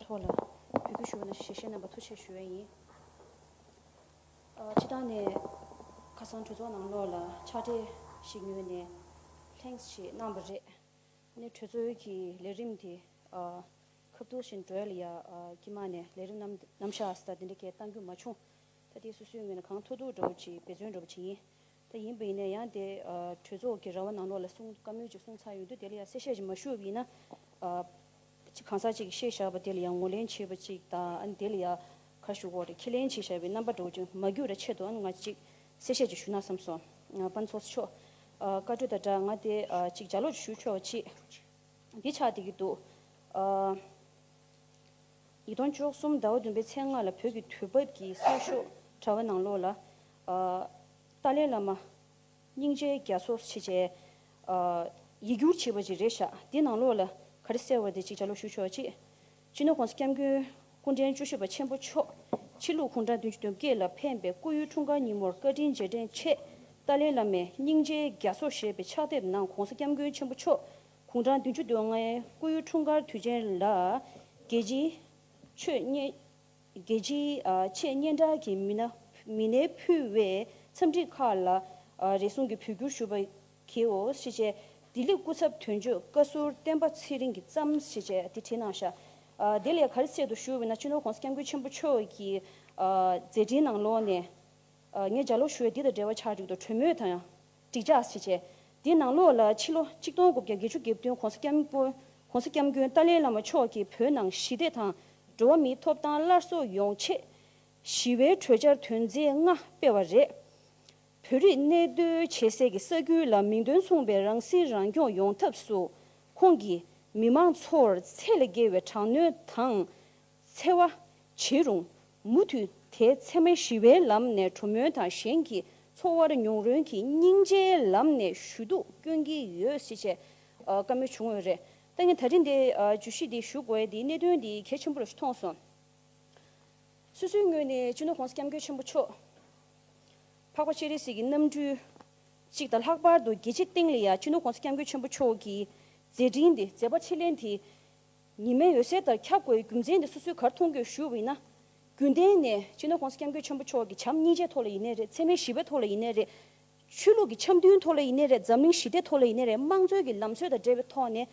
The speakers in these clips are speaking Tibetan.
ཐོག་ལ་འབུལ་རྒྱུ་ཞུ་བ་ན་ཞལ་བཞེས་རྣམ་པ་མཐུ་ཆེ་ཞུ་བས་ཡིན། ཕྱི་ལྟང་ནས་ཁ་སང་གྲོས་ཚོགས་ནང་ལོགས་ལ་ཕྱག་སྦྲེལ་ཞིག་ཉོས་ནས Thanks ཞེས་གནང་བ་རེད། ནས་གྲོས་ཚོགས་ཀྱི་ལས་རིམ་དེ་ཁ་བརྡུང་བཞིན་བགྲོད་ལ་ཡ་ཀྱི་མ་ནས་ལས་རིམ་རྣམ་བཞག་ཟ་འདི་འདྲ་སྐད་བཏང་རྒྱུ་མ་བྱུང། ད་ལྟའི་སུ་སུའི་ངོས་ནས་གང་ཐུག་ཐུག་འགྲོ་བ་ཅིག་འབད་བརྩོན་འགྲོ་བ་ཅིག་ཡིན། ད་ཡིན་པ་ཡིན་ན་ཡང་དེ་གྲོས་ཚོགས་ཀྱི་ར་བ་ནང་ལོགས་ལ་གསུང་བཀའ་མོལ་ཅིག་གསུང་ཚར་ཡོང་དུས་དེ་ལ་ཡང་གསལ་བཤད་ཅིག་མ་ཞུ་འོས་ཡིན་ན། གང་ཟག་ཅིག་གིས་བཤད་བཞག་པ་དེ་ལ་ཡང་ངོ་ལེན་བྱེད་པ་ཅིག་དང་ཨ་ནི་དེ་ལ་ཡང་ཁ་ཞུ་འོག་ཏུ་ཁས་ལེན་བྱེད་བཞག་པའི་རྣམ་པ་འགྲོ་རྒྱུ་མ་རྒྱུགས་ར་ཆེད་དུ་ཨ་ནི་ང་ཅིག་གསལ་བཤད་ཅིག་ཞུ་ན་བསམ་སོང། དཔའ་མཚོ་མཆོག། བཀའ་གྲོས་དང་སྦྲགས་ང་དེ་ཅིག་ལྗགས་ཀློག་ཅིག་ཞུ་ཆོག་ཅིག། འདི་ཆགས་བསྡད་ཀྱི་འདུག། ཡིག་སྟོང་ཅོག་གསུམ་ཟླ་བ་བདུན་པའི་ཚེས་ལྔ་ལ་བོད་ཀྱི་དུས་བབ་ཀྱི་གསར་ཤོག་དྲ་བ་ནང་ལོགས་ལ། ཏཱ་ལའི་བླ་མ། སྙིང་རྗེའི་རྒྱ་མཚོ། ཞེས་བཅས། ཡིག་སྒྱུར་བྱས་པ་ཅིག་རེད་བཞག་དེ་ནང་ལོགས་ལ་ག་རེ་གསལ་བ་དེ་ཅིག་ཆ་ལོག་ཞུ་ཆོག་ཅིག། སྤྱི་ནོར ྋགོང་ས་སྐྱབས་མགོན་སྐུ་ཕྲེང་བཅུ་བཞི་པ་ཆེན་པོ་མཆོག་ཕྱི་ལུགས་གུང་ཁྲན་བདུན་ཅུ་དོན་བརྒྱད་ལ་ཕན་པའི་སྐུ་ཡོན་འཁྲུངས་སྐར་ཉིན་མོར་བཀའ་དྲིན་རྗེས་དྲན་ཆེད་ཏཱ་ལའི་བླ་མའི་སྙིང་རྗེའི་རྒྱ་མཚོ་ཞེས་པའི་ཕྱག་དེབ་ནང ྋགོང་ས་སྐྱབས་མགོན་ཆེན་པོ་མཆོག་གུང་ཁྲང་བདུན་ཅུ་དོན་ལྔའི་སྐུ་ཡུལ་འཁྲུངས་སྐར་དུས་ཆེན་ལ། རྒྱལ་སྤྱིའི་ཆོས་རྒྱལ་སྤྱིའི་ཆེས་སྙན་གྲགས་ཀྱི་མི་སྣས་ཕུལ་བའི་འཚམས་འདྲི་ཁག་ལ་རེ་ཟུང་གིས་བོད་བསྒྱུར་ཞུ་བ་གིའོ་ཞེས་བྱས། ལྡི་ལི་སྐུ་ཚབ་དོན་གཅོད་བཀའ་ཟུར་བསྟན་པ་ཚེ་རིང་གིས་བརྩམས་ཞེས་བྱས་ཏེ་བྲིས་གནང་བཞག། དེ་ལས་གར་ཚད་དུ་ཞུ་བས་ན་སྤྱི་ནོར་གོང་ས་སྐྱབས་མགོན་ཆེན་པོ་མཆོག་གི་མཛད་འཕྲིན་ནང་ལོགས་ནས། ངས་འཇའ་ལུག་ཞོལ་འདི་དང་འབྲེལ་བ་ཆགས་འཇུག་ཏུ་གྲོས་མོས་དང། འགྲིག་འཇགས་བྱེད་ཆེད། དེའི་ནང་ལོགས་ལ་ཕྱི་ལོ་ཆིག་སྟོང་དགུ་བརྒྱ་བརྒྱད་ཅུ་དགེ་བདུན་གོང་ས་སྐྱབས་མགོན་སྐྱབས་མགོན་ཏཱ་ལའི་བླ་མ་མཆོག་གིས་བོད་ནང་ཞི་བདེ་དང་འགྲོ་བ་མིའི་ཐོབ་ཐང་སླར་གསོ་ཡོང་ཆེད། ཞི་བའི་གྲོས་འཆར་དོན་ཚན་ལྔ་སྤེལ་བ་རེད། བོད་རིགས་གནས་སྡོད་བྱེད་སའི་གི་ས་ཁུལ་ལ་མིང་དོན་མཚུངས་པའི་རང་སྲིད་རང་སྐྱོང་ཡོང་ཐབས་སུ་ཁོང་གིས་མི་མང་ཚོར་ཚད་ལས་བརྒལ་བའི་དྲག་གནོན་དང། འཚེ་བ། བྱེད་རུང། མུ་མཐུད་དེ་འཚེ་མེད་ཞི་བའི་ལམ་ནས་གྲོ་མོའི་དང་གཞན་གྱི་འཚོ་བར་མྱོང་རོལ་གྱིས་སྙིང་རྗེའི་ལམ་ནས་ཞུ་གཏུག་སྐྱོན་གྱི་ཡོད་སྲིད་ཅེས་བཀའ་མོལ་བྱུང་ཡོད་རེད། ད་ངས་ད་ཐེངས་འདིར་བརྗོད་གཞི་འདི་ཞུ་དགོས་དེའི་གནད་དོན་འདི་གལ་ཆེན་པོ་རེད་ཞུ་མཐོང་སོང། སོ་སོའི་ངོས་ནས་སྤྱི་ནོར ྋགོང་ས ྋསྐྱབས་མགོན་ཆེན་པོ་མཆོག་འཕགས་པ་སྤྱན་རས་གཟིགས་ཀྱི་རྣམ་སྤྲུལ་གཅིག་དང་ལྷག་པར་དུ་རྒྱལ་སྤྱིའི་སྟེང་ལ་ཡང་སྤྱི་ནོར ྋགོང་ས ྋསྐྱབས་མགོན་ཆེན་པོ་མཆོག་གི་མཛད་འཕྲིན་དེ་མཛད་པ་ཕྱིར་ལན་དེ་ཉི་མའི་འོད་ཟེར་ལྟར་ཁྱབ་དགོས་པའི་རྒྱུ་མཚན་དེ་སོ་སོའི་གར་མཐོང་གི་ཞུ་བས་ན། རྒྱུན་གཏན་ནས་སྤྱི་ནོར ྋགོང་ས ྋསྐྱབས་མགོན་ཆེན་པོ་མཆོག་གི་བྱམས་སྙིང་རྗེའི་ཐོག་ལ་ཡིན་ནའི་རེད་ཚད་མའི་ཞི་བའི་ཐོག་ལ་ཡིན་ནའི་རེད། ཆོས་ལུགས་ཀྱི་འཆམ་མཐུན་ཐོག་ལ་ཡིན་ནའི་རེད་འཛམ་གླིང་ཞི་བདེ་ཐོག་ལ་ཡིན་ནའི་རེད་དམངས་གཙོའི་གི་ལམ་སྲོལ་དང་འབྲེལ་བའི་ཐོག་ནས་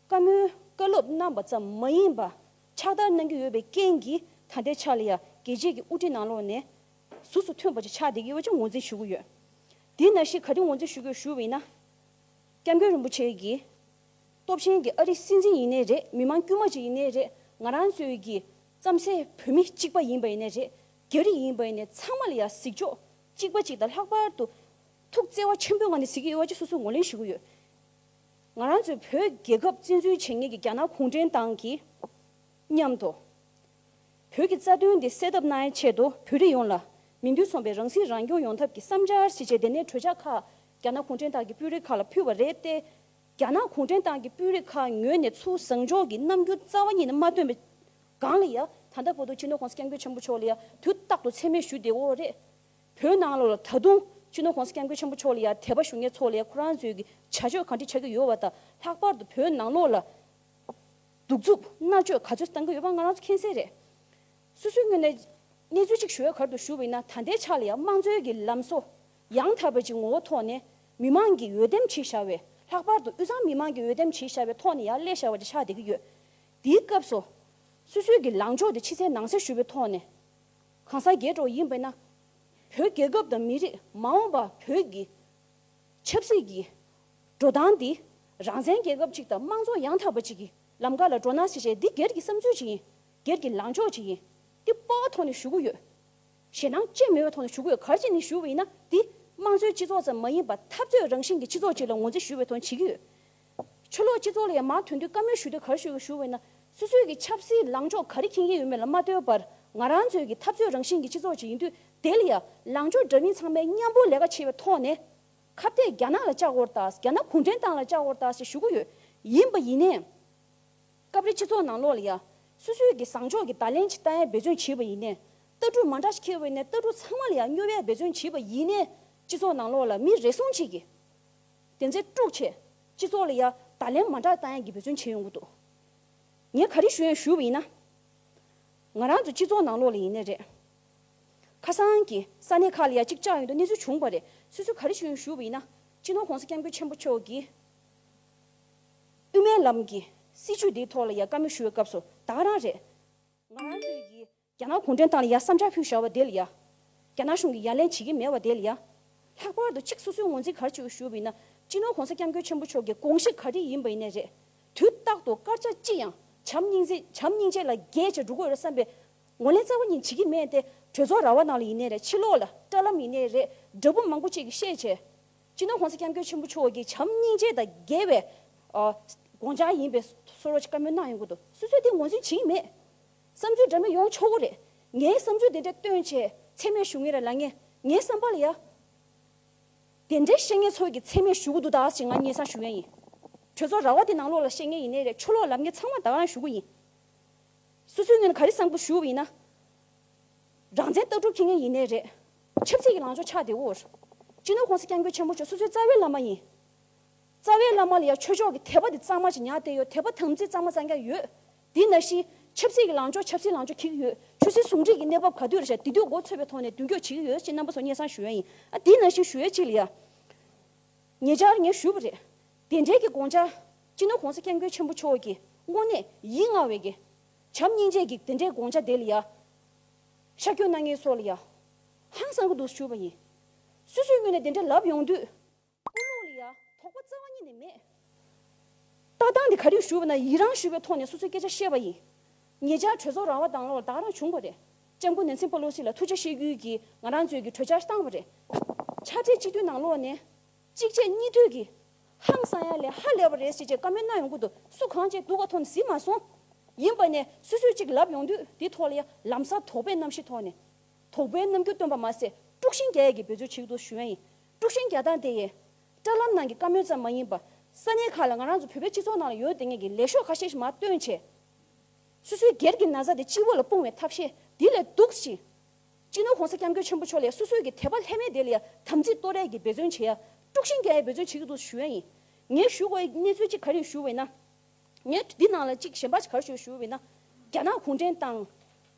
བཀའ་མོལ་བཀའ་སློབ་གནང་པ་ཙམ་མ་ཡིན་པ། ཕྱག་བསྟར་གནང་རྒྱུ་ཡོད་པའི་རྐྱེན་གྱིས་ད་ལྟའི་ཆ་ལ་ཡང་རྒྱལ་གཅེས་ཀྱི་དབུ་ཁྲིད་ནང་ལོགས་ནས་གཟུགས་སུ་ཐོན་པ་ཅིག་ཆགས་བསྡད་ཀྱི་ཡོད་པ་ཅིག་ངོས་འཛིན་ཞུ་གི་ཡོད། དེས་ན་ཞིག་ག་དེ་ངོས་འཛིན་ཞུ་དགོས་ཞུ་བས་ན ྋསྐྱབས་མགོན་རིན་པོ་ཆེ་གི་སྟོབས་ཆེན་གྱི་ཨ་རི་སྲིད་འཛིན་ཡིན་ནའི་རེད་མི་མང་དཀྱུས་མ་ཅིག་ཡིན་ནའི་རེད་ང་རང་ཚོའི་གི་རྩམ་སའི་བོད་མི་གཅིག་པ་ཡིན་པ་ཡིན་ནའི་རེད་རྒྱ་རིགས་ཡིན་པ་ཡིན་ནའི་ཚང་མ་ལ་ཡ་གཟིགས་ཕྱོགས་གཅིག་པ་ཅིག་དང་ལྷག་པར་དུ་ཐུགས་བརྩེ་བ་ཆེན་པོའི་ངང་ནས་གཟིགས་ཀྱི་ཡོད་བ་ཅིག་སོ་སོས་ངོ་ལེན་བྱེད་གི་ཡོད། ང་རང་ཚོའི་བོད་རྒྱལ་ཁབ་བཙན་འཛུལ་བྱེད་ངེས་ཀྱི་རྒྱ་ནག་གུང་ཁྲན་ཏང་གི་མཉམ་དུ་བོད་ཀྱི་རྩ་དོན་འདི་སེལ་ཐབས་གནང་ཆེད་དུ་བོད་རིགས་ཡོངས་ལ་མི་འདུས་སོང་པའི་རང་སྲིད་རང་སྐྱོང་ཡོང་ཐབས་ཀྱི་བསམ་འཆར་གཞི་བྱས་དེ་ནས་གྲོས་འཆར་ཁག་རྒྱ་ནག་གུང་ཁྲན་ཏང་གི་དཔོན་རིགས་ཁག་ལ་ཕུལ་བ་རེད་དེ། རྒྱ་ནག་གུང་ཁྲན་ཏང་གི་དཔོན་རིགས་ཁག་ཉོས་ནས་ཚུར་བཟང་ཕྱོགས་ཀྱི་རྣམ་འགྱུར་རྩ་བ་ཉིད་ནས་མ་སྟོན་པའི་སྒང་ལ་ཡང་ད་ལྟ་བོ་དོ་སྤྱི་ནོར་ཁོང་སྐྱབས་མགོན་ཆེན་པོ་མཆོག་ལ་ཡང་དུས་རྟག་ཏུ་མཚན་སྨད་ཞུ་བདེ་བོ་རེད། བོད་ནང་ལ་ད་དུང་སྤྱི་ནོར་ཁོང་སྐྱབས་མགོན་ཆེན་པོ་མཆོག་ལ་ཡང་དད་པ་ཞུ་ཉེ་ཚོགས་ལ་ཡང་ཁོ་རང་ཚོའི་གི་བྱ་སྤྱོད་གང་འདྲི་ཆ་གི་ཡོད་བ་དང་ལྷག་པར་དུ་བོད་ནང་ལོགས་ལ་གདུག་རྩུབ་མནར་གཅོད་ག་ཚོད་བཏང་གི་ཡོད་པ་ང་རང་ཚོ་མཁྱེན་གསལ་རེད། སུས་སུའི་ངོས་ནས་གནས་ཚུལ་གཅིག་ཞུ་བའི་གར་དུ་ཞུ་བས་ན་ད་ལྟའི་ཆ་ལ་ཡང་དམངས་གཙོའི་གི་ལམ་སོ་ཡང་དག་པའི་ཀྱི་ངོ་བོ་ཐོག་ནས་མི་མང་གིས་འོས་འདེམས་བྱེད་བཞག་བས་ལྷག་པར་དུ་དབུས་གཙང་མི་མང་གིས་འོས་འདེམས་བྱེད་བཞག་པའི་ཐོག་ནས་ཡར་ཀླད་བཞག་པ་ཅིག་ཆགས་བསྡད་ཀྱི་ཡོད། དེའི་སྐབས་སུ། སུད་སུད་ཀྱི་ལངས་ཕྱོགས་དེ་ཕྱི་ཚེས་ནང་གསེས་ཞུ་བའི་ཐོག་ནས་གང་སར་རྒྱས་འགྲོ་ཡིན་པས་ན། བོད་རྒྱལ་ཁབ་དང་མི་རིགས་མ་འོངས་པ་བོད་ཀྱི་ཆབ་སྲིད་ཀྱི་འགྲོ་སྟངས་འདི་རང་བཙན་རྒྱལ་ཁབ་ཅིག་དང་དམངས་གཙོ་ཡང་དག་པ་ཅིག་གི་ལམ་ཀ་ལ་འགྲོ་སྣང་སེ་བྱས་འདི་སྒེར་གྱི་བསམ་ཚུལ་ཅིག་ཡིན། སྒེར་གྱི་ལངས་ཕྱོགས་ཅིག་ཡིན། དེ་སྤོ་བ་ཐོག་ནས་ཞུ་གི་ཡོད། ཞེད་སྣང་སྐྱེ་མི་འོས་ཐོག་ནས་ཞུ་དགོས་གལ་ཆེ་ནི་ཞུ་བ་ཡིན་ན་དེ་དམངས་གཙོའི་སྤྱི་ཚོགས་ཙམ་མ་ཡིན་པར་འཐབ་རྩོད་རང་བཞིན་གྱི་སྤྱི་ཚོགས་ཅིག་ལ་ངོས་འཛིན་ཞུ་བའི་དོན་བྱེད་ཀྱི་ཡོད། ཆོས་ལོག་སྤྱི་ཚོགས་ལ་ཡང་མང་དོན་དུས་བཀའ་མོལ་ཞུ་དུས་གར་ཞུ་དགོས་ཞུ་བ་ཡིན་ན་སོ་སོའི་གི་ཆབ་སྲིད་ལངས་ཕྱོགས་ག་རེ་མཁྱེན་གྱི་ཡོད་མེད་ལ་མ་ལྟོས་པར་ང་རང་ཚོའི་གི་འཐབ་རྩོད་རང་བཞིན་གྱི་སྤྱི་ཚོགས་ཅིག་ཡིན་དུས་དེ་ལ་ཡང་ལངས་ཕྱོགས་འདྲ་མིན་ཚང་མས་མཉམ་པོ་ལས་ཀ་བྱེད་པའི་ཐོག་ནས་ཁ་བརྡས་རྒྱ་ནག་ལ་ལྕགས་སྒོར་དང་རྒྱ་ནག་གུང་ཁྲན་ཏང་ལ་ལྕགས་སྒོར་དང་ཞེས་ཞུ་གི་ཡོད་ཡིན་པ་ཡིན་ནའི། སྐབས་རེ་སྤྱི་ཚོགས་ནང་ལོགས་ལ་ཡ། སུད་སུད་ཀྱི་བཟང་ཕྱོགས་ཀྱི་ད་ལན་གྱི་རྟ་ཡལ་འབད་བརྩོན་བྱེད་པ་ཡིན། རྟ་དྲུག་མ་འདྲ་ཞིག་ཁྱེར་བའི་ནས་རྟ་དྲུག་ཚང་མ་ལ་ཡ་སྨྱོ་བའི་འབད་བརྩོན་བྱེད་པ་ཡིན། སྤྱི་ཚོགས་ནང་ལོགས་ལ་མི་རེ་ཟུང་ཅིག་གིས། དེ་ཚེ་དཀྲུགས་ཆེ། སྤྱི་ཚོགས་ལ་ཡ། ད་ལན་མ་འདྲ་རྟ་ཡལ་གྱི་འབད་བརྩོན་བྱེད་ཡོང་གི་འདུག། ངས་ག་རེ་ཞུ་ཡང་ཞུས་པ་ཡིན་ན། ང་རང་ཚོ་སྤྱི་ཚོགས་ནང་ལོགས་ལ་ཡིན་ནི་རེད། ཁ་སང་གི་ས་གནས་ཁག་ལ་ཡ་གཅིག་ལྕགས་ཡོད་འདུག་གནས་ཚུལ་བྱུང་བ་རེད་སུད་སུད་ག་རེ་ཞུ་ཡང་ཞུས་པ་ཡིན་ན། སྤྱི་ནོར་གོང་ས་སྐྱབས་མགོན་ཆེན་པོ་མཆོག་གིས། དབུ་མའི་ལམ་གྱི་སྲིད་བྱུས་འདིའི་ཐོག་ལ་ཡ་བཀའ་མོལ་ཞུ་བའི་སྐབས་སུ་དྭང་རང་རེད། ང་རང་ཚོས་ཀྱིས་རྒྱ་ནག་གུང་ཁྲན་ཏང་ལ་ཡ་བསམ་འཆར་ཕུལ་བཞག་བ་དེ་ལ་ཡ། རྒྱ་ནག་གཞུང་གིས་ཡ་ལན་བྱེད་ཀྱི་མེད་བ་དེ་ལ་ཡ། ལྷག་པར་དུ་གཅིག་སོ་སོའི་ངོ་འཛིན་གར་བྱེད་ཞུ་བ་ཡིན་ན། སྤྱི་ནོར་གོང་ས་སྐྱབས་མགོན་ཆེན་པོ་མཆོག་གི་དགོངས་གཞི་ག་དེ་ཡིན་པ་ཡིན་ནི་རེད། དུས་རྟག་ཏུ་དཀར་ཆག་ཅི་ཡང་བྱམས་སྙིང་རྗེ་བྱམས་སྙིང་རྗེ་ལ་རྒྱལ་བྱེད་འགྲོ་དགོས་རེད་བསམ་པའི་ངོ་ལེན་རྩ་བ་ཉིད་བྱེད་ཀྱི་མེད་དེ་གྲོས་ཚོགས་ར་བ་ནང་ལ་ཡིན་ནི་རེད་ཕྱི་ལོགས་ལ་བཀྲ་ལམ་ཡིན་ནི་རེད་འདྲ་པོ་མང་པོ་ཅིག་གིས་བཤད་བྱས། སྤྱིར་ན་གོང་ས་སྐྱབས་མགོན་ཆེན་པོ་མཆོག་གི་བྱམས་སྙིང་རྗེ་དང་རྒྱལ་བའི་དགོངས་འཆར་ཡིན་པའི་སོར་རོ་ཅིག་བཀའ་མོལ་གནང་ཡོང་གི་འདུག་སོ་སོས་དེ་ངོས་འཛིན་བྱེད་ཀྱི་མེད། བསམ་ཚུལ་འདྲ་མིན་ཡོང་ཆོག་གི་རེད། ངའི་བསམ་ཚུལ་དེ་འདྲ་སྟོན་བྱེད་ཚད་མས་ཞུ་ངེས་རེད་ལ་ངས་ངའི་བསམ་པ་ལ་ཡ། དེ་འདྲའི་བཤད་ངན་ཚོགས་ཀྱི་ཚད་མས་ཞུ་གི་འདུག་དག་ཅིག་ང་སྙན་གསང་ཞུ་མཁན་ཡིན། གྲོས་ཚོགས་རྭ་བ་དེ་ནང་ལོགས་ལ་བཤད་ངན་ཡིན་ནའི་རེད་ཆོས་ལོག་ལབ་ངན་ཚང་མ་དག་ལ་ཞུ་གི་ཡིན། སོ་སོའི་ངོས་ནས་ག་རེ་བསམ་གི་ཞུ་བ་ཡིན་ན། རང་བཙན་ལྟ་གྲུབ་ཁྱི་ངན་ཡིན་ནའི་རེད། ཆབ་སྲིད་ཀྱི་ལངས་ཕྱོགས་ཆགས་བདེ་བོར། སྤྱི་ནོར་ཁོངས་སུ་སྐྱབས་མགོན་ཆེན་པོ་མཆོག་སོ་སོའི་རྩ་བའི་བླ་མ་ཡིན། རྩ་བའི་བླ་མ་ལ་ཡང་ཆོས་ཕྱོགས་ཀྱི་དད་པ་དེ་གཙང་མ་ཞིག་ཉག་སྟེ་ཡོད་དད་པ་དམ་ཚིག་གཙང་མ་གཙང་རྐྱང་ཡོད། དེས་ན་ཤི། ཆབ་སྲིད་ཀྱི་ལངས་ཕྱོགས་ཆབ་སྲིད་ལངས་ཕྱོགས་གྱིས་ཀྱི་ཡོད། ཆོས་སྲིད་ཟུང་འབྲེལ་གྱི་གནས་བབ་ག་དུས་ལ་བྱ་དེ་དུས་འགོ་ཚོས་པའི་ཐོག་ནས་མདུན་སྐྱོད་བྱེད་ཀྱི་ཡོད་ཅེས་རྣམ་པ་ཚོ་སྙན་གསང་ཞུ་ཡ་ཡིན། ཨ་དེས་ན་ཤི་ཞུ་ཡ་གཅིག་ལ་ཡང། ཉེ་ཆར་ངས་ཞུས་པ་རེད། དེ་འབྲེལ་གྱི་དགོངས་འཆར། སྤྱི་ནོར་ཁོངས་སུ་སྐྱབས་མགོན་ཆེན་པོ་མཆོག་གིས་དངོས་གནས་ཡིད་མངའ་བའི་དགེ། བྱམས་སྙིང་རྗེ་གིས་དེ་འདྲའི་དགོངས་འཆར་དེ་ལ་ཡ། ཤ་ཁྱོད་སྣ་ངའི་སྲོག་ལ་ཡ། ཧང་སང་གི་དུག་ཞུགས་པ་ཡིན། སུས་སུའི་སྔུན་ནས་དེ་འདྲ་ལབ་ཡོང་དུས། སྐུ་ལུང་ལ་ཡ། དོགས་པ་རྩ་བ་ཉིད་ནས་མེད། ལྟ་སྟངས་དེ་ག་རེ་ཞུ་བ་ན་ཡི་རང་ཞུ་བའི་ཐོག་ནས་སོ་སོའི་སྐད་ཆ་བཤད་པ་ཡིན། ངེད་ཅག་གྲོས་ཚོགས་རང་བ་དྭང་ལོག་ལ་དྭགས་རང་བྱུང་བ་རེད། ལྕམ་སྐུ་ནན་སིན་པ་ལོ་སི་ལ་ཐུགས་རྗེ་ཤེས་རྒྱུད་ཀྱིས་ང་རང་གཙོས་ཀྱི་གྲོས་འཆར་བཏང་བ་རེད། ཕྱག་སྦྲེལ་གཅིག་མཐུན་ནང་ལོགས་ནས། གཅིག་རྗེས་གཉིས་མཐུད་ཀྱིས། ཧང་སང་ཡ་ལས་ཧ་ལས་པ་རེད་ཟེར་ཅེས་བཀའ་མོལ་གནང་ཡོང་ཁུལ་དུ་སུ་གང་ཅིག་འདུག་ག་མཐོང་ནས་ཟིན་མ་སོང། ཡིན་པ་ནས་སུ་སུ་གཅིག་ལབ་ཡོང་དུས་དེའི་ཐོག་ལ་ཡང་ལམ་སང་དོགས་པའི་རྣམ་ཤེས་ཐོག་ནས། དོགས་པའི་རྣམ་འགྱུར་སྟོན་པ་མ་ཟད་དཀྲུག་ཤིང་རྒྱ་ཡལ་གྱི་འབོད་ཚུལ་ཞིག་ཏུ་ཞུ་ཡོན་ཡིན། དཀྲུག་ཤིང་རྒྱ་སྟངས་དེ་ཡན། བཀྲ་ལམ་ནང་གི་བཀའ་མོལ་ཙམ་མ་ཡིན་པར། ས་གནས་ཁག་ལ་ང་རང་ཚོ་བོད་པའི་སྤྱི་ཚོགས་ནང་ལ་ཡོད་དེ་ངེས་ཀྱི་ལས་ཤོག་ཁ་ཤས་ཤིག་མ་བཏོན་བྱས། སུ་སུའི་སྒེར་གྱི་ན་བཟའ་དེ་སྤྱི་བོ་ལ་སྤུངས་བའི་ཐབས་ཤེས་དེ་ལས་སྡུག་ཅིང། སྤྱི་ནོར ྋགོང་ས ྋསྐྱབས་མགོན་ཆེན་པོ་མཆོག་ལས་སོ་སོའི་གི་དད་པ་ལྷད་མེད་དེ་ལ་དམ་ཚིག་བསྟོད་རས་ཀྱི་འབད་བརྩོན་བྱེད་ཡ། དཀྲུགས་ཤིང་རྒྱ་ཡའི་འབད་བརྩོན་བྱེད་ཀྱི་འདུག་ཞུ་ཡ་ཡིན། ངས་ཞུ་དགོས་གནས་ཚུལ་གཅིག་ག་རེ་ཞུ་འོས་ན། ངས་འདི་ནང་ལ་གཅིག་གཞན་པ་ག་རེ་ཞིག་ཞུ་འོས་ན། རྒྱ་ནག་གུང་ཁྲན་ཏང།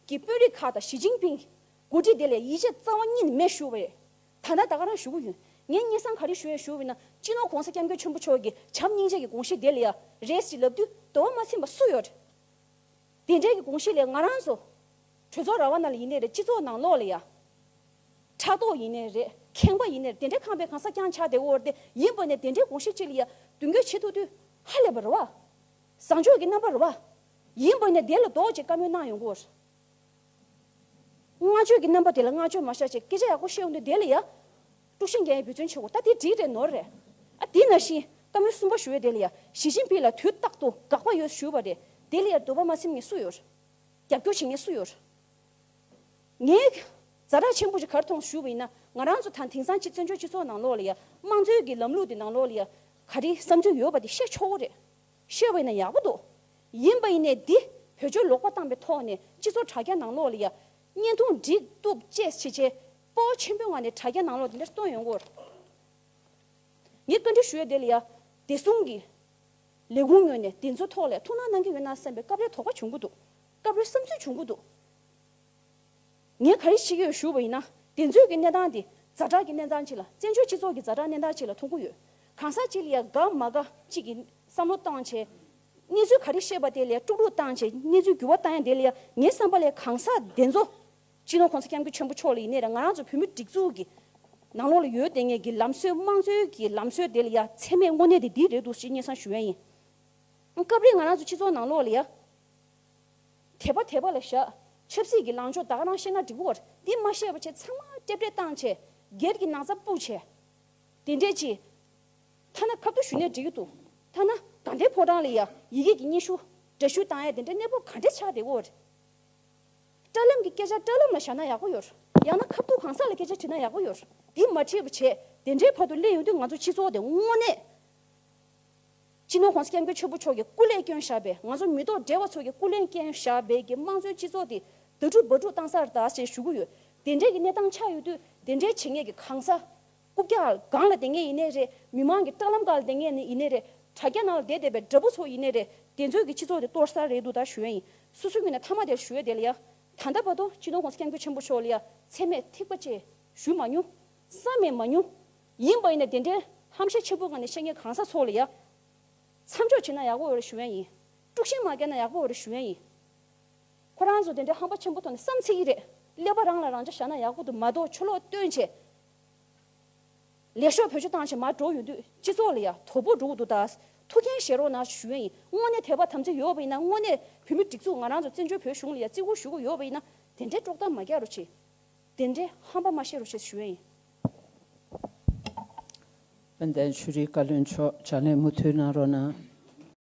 གི་དཔོན་རིགས་ཁག་དང་ཞི་ཅིང་ཕིང། གི་འགོ་ཁྲིད་དེ་ལས་ཡིད་ཆེས་རྩ་བ་གཉིས་ནས་མེད་ཞུ་བ་རེད། ད་ལྟ་ད་ག་རང་ཞུ་གི་ཡོད། ངས་སྙན་གསང་ག་རེ་ཞུ་ཡ་ཞུ་འོས་ན་སྤྱི་ནོར ྋགོང་ས ྋསྐྱབས་མགོན་ཆེན་པོ་མཆོག་གི་བྱམས་སྙིང་རྗེ་གི་དགོངས་གཞི་དེ་ལ་ཡ་རེས་ཀྱི་ལབ་དུས་དོར་བ་མ་ཟིན་པ་སུ་ཡོད། དེ་འབྲེལ་གྱི་དགོངས་གཞི་ལས་ང་རང་ཚོ་གྲོས་ཚོགས་ར་བ་ནང་ལ་ཡིན་ནའི་རེད་སྤྱི་ཚོགས་ནང་ལོགས་ལ་ཡང་ཕྲག་དོག་ཡིན་ནའི་རེད་ཁེངས་པ་ཡིན་ནའི་རེད་དེ་འདྲའི་ཁང་པའི་གང་ས་བརྐྱང་ཆགས་དེ་འོར་དེ་ཡིན་པ་ནས་དེ་འདྲའི་དགོངས་གཞི་གཅིག་ལ་ཡང་མདུན་བསྐྱོད་བྱེད་ཐུབ་དུས་ཧ་ལས་པ་རེད་བ། བཟང་ཕྱོགས་ཀྱི་རྣམ་པ་རེད་བ། ཡིན་པ་ནས་དེ་ལ་འདོགས་བྱེད་བཀའ་མོལ་གནང་ཡོང་དགོས་རེད། བསྔགས་བརྗོད་ཀྱི་རྣམ་པ་དེ་ལ་བསྔགས་བརྗོད་མ་བྱ་ཅེས་སྐད་ཆ་ཡག་པོ་བཤད་ཡོང་དུས་དེ་ལ་ཡང། དཀྲུག་ཤིང་རྒྱལ་ཡི་བུ་བཙུན་ཆེ་བོ་ད་འདི་འགྲིག་རེད་ནོར་རེད་ཨ་འདི་ན་བཞིན་ཀ་མོའི་སུན་པ་ཞུ་ཡོད་དེ་ལ་ཡ་ཞི་ཅིན་པི་ལ་དུས་རྟག་ཏུ་དགག་པ་ཡོད་ཞུ་བ་རེད་དེ་ལ་ཡ་འདོད་པ་མ་སེམས་ངེས་སུ་ཡོད་རྒྱབ་སྐྱོར་བྱེད་ངེས་སུ་ཡོད་ངའི་བཟའ་རག་ཆེན་པོ་ཞིག་གར་ཐོངས་ཞུ་བ་ཡིན་ན་ང་རང་ཚོ་ད་དེང་སང་སྤྱི་བཙན་བྱོལ་སྤྱི་ཚོགས་ནང་ལོག་ལ་ཡ་དམངས་གཙོའི་གི་ལམ་ལུགས་དེ་ནང་ལོག་ལ་ཡ་ག་རི་བསམ་ཚུལ་ཡོད་པ་དེ་བཤད་ཆོག་གོ་རེད་བཤད་བ་ཡིན་ན་ཡག་པོ་འདུག་ཡིན་པ་ཡིན་ནས་འདི་བོད་ཆོལ་ལོག་པ་བཏང་པའི་ཐོག་ནས་སྤྱི་ཚོགས་དྲ་རྒྱ་ནང་ལོག་ལ་ཡ་བརྙན་ཐུང་འབྲི་གཏུབ་བཅས་བྱེད་བྱེད་སྤོ་བོ་ཆེན་པོའི་ངང་ནས་དྲ་རྒྱ་ནང་ལོགས་འདི་འདྲར་གཏོང་ཡོང་སྐོར། ངས་བཀའ་འདྲི་ཞུ་ཡ་དེ་ལ་ཡ། བདེ་སྲུང་གི་ལས་ཁུངས་ངོས་ནས་དེ་ཚོའི་ཐོག་ལས་ཐུགས་སྣང་གནང་གི་ཡོད་ནང་བསམ་པའི་སྐབས་རེ་དོགས་པ་བྱུང་གི་འདུག་སྐབས་རེ་བསམ་ཚུལ་བྱུང་གི་འདུག་ངས་ག་རེ་བྱེད་ཀྱི་ཡོད་ཞུ་བ་ཡིན་ན་དེ་ཚོའི་གི་གནས་སྟངས་དེ་རྫ་དྲག་གི་གནས་སྟངས་ཅིག་ལ་བཙན་བྱོལ་སྤྱི་ཚོགས་ཀྱི་རྫ་དྲག་གནས་སྟངས་ཅིག་ལ་མཐོང་གི་ཡོད། གང་ཟག་ཅིག་ལ་ཡ་དགའ་མ་དགའ་ཅིག་གི་བསམ་བློ་བཏང་བྱས། གནས་ཚུལ་ག་རེ་ཤེས་པ་དེ་ལ་ཡ་དཀྲུག་དཀྲུག་བཏང་བྱས་གནས་ཚུལ་འགྱུར་བ་བཏང་ཡ་དེ་ལ་ཡ་ངའི་བསམ་པ་ལས་གང་ཟག་དེ་ཚོ་སྤྱི་ནོར ྋགོང་ས ྋསྐྱབས་མགོན་ཆེན་པོ་མཆོག་ལ་ཡིན་ནའི་ར་ང་རང་ཚོ་བོད་མིའི་སྒྲིག་འཛུགས་ཀྱི་ནང་ལོགས་ལ་ཡོད་ལྟས་ངན་གྱི་ལམ་སྲོལ་དམངས་གཙོའི་གྱི་ལམ་སྲོལ་དེ་ལ་ཡ་མཚན་མེད་དངོས་གནས་དེ་འདི་རེད་འདུག་ཅེས་སྙན་གསང་ཞུ་ཡ་ཡིན། སྐབས་རེ་ང་རང་ཚོ་སྤྱི་ཚོགས་ནང་ལོགས་ལ་ཡ། དད་པ་དད་པ་ལ་བཞག་ཆབ་སྲིད་ཀྱི་ལངས་ཕྱོགས་བདག་རང་ཤེས་ན་འགྲིག་བར་དེ་མ་ཤེས་པ་ཆེ་ཚང་མ་སྐྱབས་རེ་བཏང་བྱས་སྒེར་གྱི་ནང་ཚ་སྤུག་བྱས་དེ་འདྲས་ཀྱི། ཐ་ན་ཁ་བརྡ་ཞུ་ནས་འབྲེལ་ཡོད་དུ་ཐ་ན་དགའ་ལྡན་ཕོ་བྲང་ལ་ཡ་ཡི་གེ་གྱི་སྙན་ཞུ་འདྲ་ཞུ་བཏང་ཡ་དེ་འདྲས་གནས་བབ་ག་འདྲས་ཆགས་དེ་བར། སྐྲ་ལམ་གྱི་སྐད་ཆ་སྐྲ་ལམ་ལ་བཞག་ན་ཡག་པོ་ཡོད། ཡང་ན་ཁ་བསྡུ་གང་ཟག་ལ་སྐད་ཆ་དྲིས་ན་ཡག་པོ་ཡོད། དེ་མ་བྲིས་པ་བྱས། དེ་འདྲའི་བར་དུ་གླེང་ཡོང་དུས་ང་ཚོ་སྤྱི་ཚོགས་དེ་དངོས་གནས། སྤྱི་ནོར ྋགོང་ས ྋསྐྱབས་མགོན་ཆོས་འཕོ་མཆོག་གིས་སྐུ་ལས་བསྐྱོན་བཞག་པའི་ང་ཚོ་མི་ཐོག་འབྲེལ་བ་ཚོ་གི་སྐུ་ལས་བསྐྱོན་བཞག་པའི་གི་དམངས་གཙོའི་སྤྱི་ཚོགས་དེ་ད་དྲུག་འབའ་དྲུག་བཏང་སར་གདའ་ཞེས་ཞུ་གི་ཡོད། དེ་འདྲའི་གི་གནས་སྟངས་ཆགས་ཡོད་དུས་དེ་འདྲའི་བྱེད་ངེས་ཀྱི་གང་ཟག་རྐུབ་བཀྱག་ལ་སྒང་ལ་དེ་ངས་ཡིན་ནས་རེད་མི་མང་གི་སྐྲག་ལམ་སྒང་ལ་དེ་ངས་ནི་ཡིན་ནས་རེད་དྲ་རྒྱ་ནང་ལ་དེ་བསྡད་པའི་དགྲ་བོ་ཚོ་ཡིན་ནས་རེད་དེ་ཚོས་ཀྱི་སྤྱི་ཚོགས་དེ་གཏོར་ས་རེད་འདུག་ད་ཞུ་ཡ་ཡིན་སུ་སུ་ཀྱི་ནས་མཐའ་མ་དེར་ཞུ་ཡ་དེ་ལ་ཡ་ད་ལྟ་བར་དུ་སྤྱི་དོན་གོང་ས་སྐྱབས་མགོན་ཆེན་པོ་མཆོག་ལ་ཡ་ཚད་མེད་ཐིགས་པ་བཅས་ཞུས་མ་མྱོང། བསམ་མེད་མ་མྱོང། ཡིན་པ་ཡིན་ནས་དེ་འདྲའི་ཧམ་བཤད་འཆི་འཕོ་ག་ནས་བཤད་མཁན་གང་ཟག་ཚོ་ལ་ཡ་མཚམས་འཇོག་བྱེད་ན་ཡག་པོ་འོས་རེད་ཞུ་ཡ་ཡིན། དཀྲུག་ཤིང་མ་བཀལ་ན་ཡག་པོ་འོས་རེད་ཞུ་ཡ་ཡིན། ཁོ་རང་ཚོ་དེ་འདྲའི་ཧམ་པ་ཆེན་པོ་ཐོག་ནས་བསམ་ཚེ་ཡིན་རེད་ཀླད་པ་རང་ལ་རང་འཇགས་བཞག་ན་ཡག་པོ་འདུག་མ་གཏོགས་ཆོ་ལོག་སྟོན་བྱེད་ལས་ཤོག་བོད་ཆུ་བཏང་ཕྱིར་མར་འགྲོ་ཡོང་དུས་སྤྱི་ཚོགས་ལ་ཡང་དོ་པོ་འགྲོ་གི་འདུག་ད་ཐུགས་འགན་བཞེས་རོགས་གནང་ཞུ་ཡ་ཡིན་དངོས་གནས་དད་པ་དམ་ཚིག་ཡོད་པ་ཡིན་ན་དངོས་གནས་བོད་མི་སྒྲིག་འཛུགས་ང་རང་ཚོ་བཙན་བྱོལ་བོད་གཞུང་ལ་ཡང་བརྩི་བཀུར་ཞུ་གི་ཡོད་པ་ཡིན་ན་དེ་འདྲའི་དཀྲོག་གཏམ་མ་རྒྱག་རོགས་གྱིས་དེ་འདྲའི་ཧམ་པ་མ་བཤད་རོགས་གྱིས་ཞུ་ཡ་ཡིན། དཔལ་ལྡན་ཆོས་རིག་བཀའ་བློན་མཆོག་ཕྱག་ལས་མུ་མཐུད་གནང་རོགས་གནང།